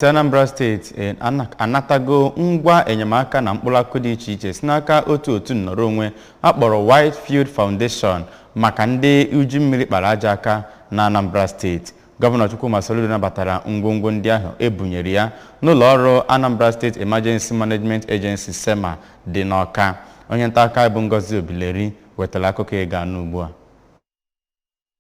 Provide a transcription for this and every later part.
Anambra steeti anatago ngwa enyemaka na mkpụrụ akụkụ dị iche iche si n'aka otu otu nnọrọ onwe akpọrọ Whitefield Foundation maka ndị uju mmiri kpara ajọ aka na Anambra steeti gọvanọ Chukwuma Soludo nabatara ngwongwo ndị ahụ ebunyere ya n'ụlọ ọrụ Anambra State Emergency Management Agency SEMA dị n'Ọka onye nta aka bụ Ngozi Obileri wetara akụkọ ị ga-anụ ugbu a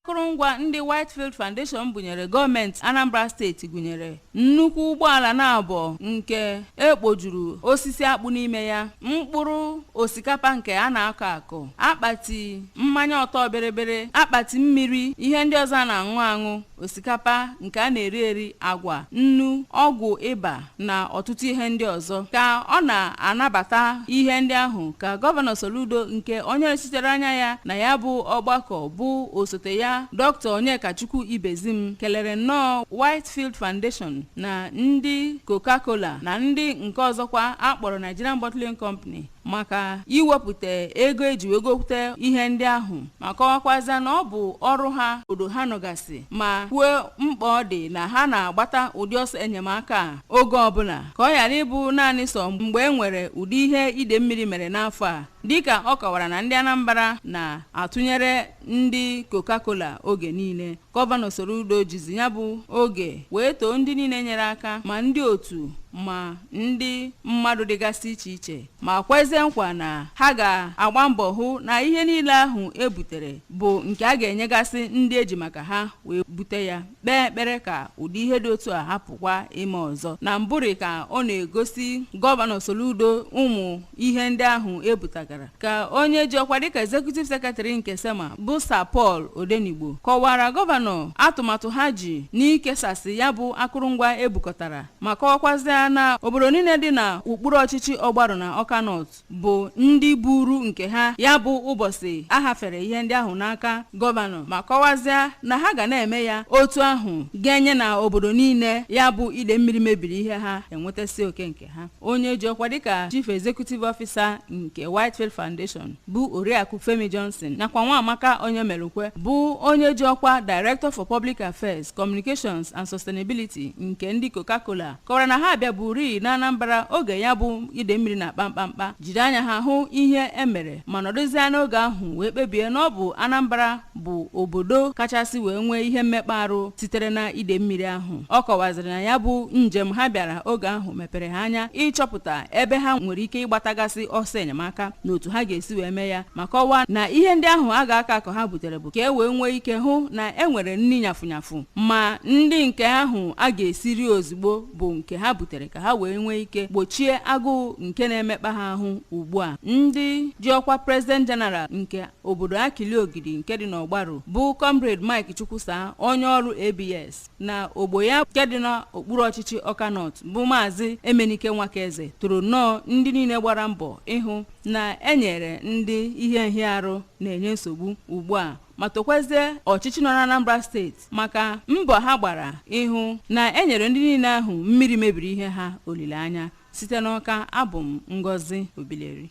akụrụngwa ndị Whitefield Foundation bunyere gọọmenti Anambra steeti gụnyere nnukwu ụgbọala naabọ nke ekpojuru osisi akpụ n'ime ya mkpụrụ osikapa nke a na-akọ akọ akpati mmanya ọtọ bịrịbịrị akpati mmiri ihe ndị ọzọ a na-aṅụ aṅụ osikapa nke a na-eri eri agwa nnu ọgwụ ịba na ọtụtụ ihe ndị ọzọ ka ọ na-anabata ihe ndị ahụ ka gọvanọ Soludo nke onye nọchitere anya ya na ya bụ ọgbakọ bụ osote ya Dr. Onyekachukwu Ibezim kelere nnọọ Whitefield Foundation na ndị Coca-Cola na ndị nke ọzọkwa akpọrọ Nigerian Bottling Company maka iwepụta ego eji wee gota ihe ndị ahụ ma kọwakwaza na ọ bụ ọrụ ha obodo ha nọgasị ma kwuo mkpa ọ dị na ha na-agbata ụdị ọsọ enyemaka a oge ọbụla ka ọ ghara ịbụ naanị sọ mgbe e nwere ụdị ihe ide mmiri mere n'afọ a dịka ọ kọwara na ndị Anambra na-atụnyere ndị Coca-Cola oge niile Gọvanọ Soludo jizi ya bụ oge wee too ndị niile nyere aka ma ndị otu ma ndị mmadụ dịgasị iche iche ma kwezie nkwa na ha ga-agba mbọ hụ na ihe niile ahụ e butere bụ nke a ga-enyegasị ndị eji maka ha wee bute ya kpee ekpere ka ụdị ihe dị otu a hapụkwa ime ọzọ na mbụrị ka ọ na-egosi gọvanọ Soludo ụmụ ihe ndị ahụ ebutagara ka onye ji ọkwa dịka executive secretary nke sema bụ sir paul odenigbo kọwaara gọvanọ atụmatụ ha ji n'ikesasị ya bụ akụrụngwa ebukọtara ma kọwakwazịa na obodo niile dị na okpuru ọchịchị ọgbarụ na ọka nọt bụ ndị buuru nke ha ya bụ ụbọchị ahafere ihe ndị ahụ n'aka gọvanọ ma kọwazịa na ha ga na-eme ya otu ahụ ganye na obodo niile ya bụ ide mmiri mebiri ihe ha enwetasị oke nke ha onye ji ọkwa dịka chief executive officer nke whitefield foundation bụ oriakụ femi johnson nakwa nwamaka onyemelukwe bụ onye ji ọkwa director for public affairs communications and sustainability nke ndị coca-cola kọwara na ha abịaburi na anambra oge ya bụ ide mmiri na-akpa mkpamkpa jiri anya ha hụ ihe emere ma nọdụzie n'oge ahụ wee kpebie na ọ bụ anambra bụ obodo kachasị wee nwee ihe mmekpa arụ sitere na ide mmiri ahụ ọ kọwaziri na ya bụ njem ha bịara oge ahụ mepere ha anya ịchọpụta ebe ha nwere ike ịgbatagasị ọsọ enyemaka na otu ha ga-esi wee mee ya ma kọwaa na ihe ndị ahụ a ga-akọ akọ ha butere bụ ka e wee nwee ike hụ na e nwere nri nyafụnyafụ ma ndị nke ahụ a ga-esi rie ozugbo bụ nke ha butere ka ha wee nwee ike gbochie agụụ nke na-emekpa ha ahụ ugbu a ndị ji ọkwa president general nke obodo akili ogidi nke dị n'ọgbaru bụ comrade mike chukwusa onye ọrụ abs na ogbo ya nke dị n'okpuru ọchịchị ọka north bụ maazị emenike nwakaeze toro nnọọ ndị niile gbara mbọ ịhụ na e nyere ndị ihe nhịarụ na-enye nsogbu ugbu a ma tokwezie ọchịchị nọ n'anambra steeti maka mbọ ha gbara ịhụ na e nyere ndị niile ahụ mmiri mebiri ihe ha olileanya site n'ọka abụ m ngozi obileri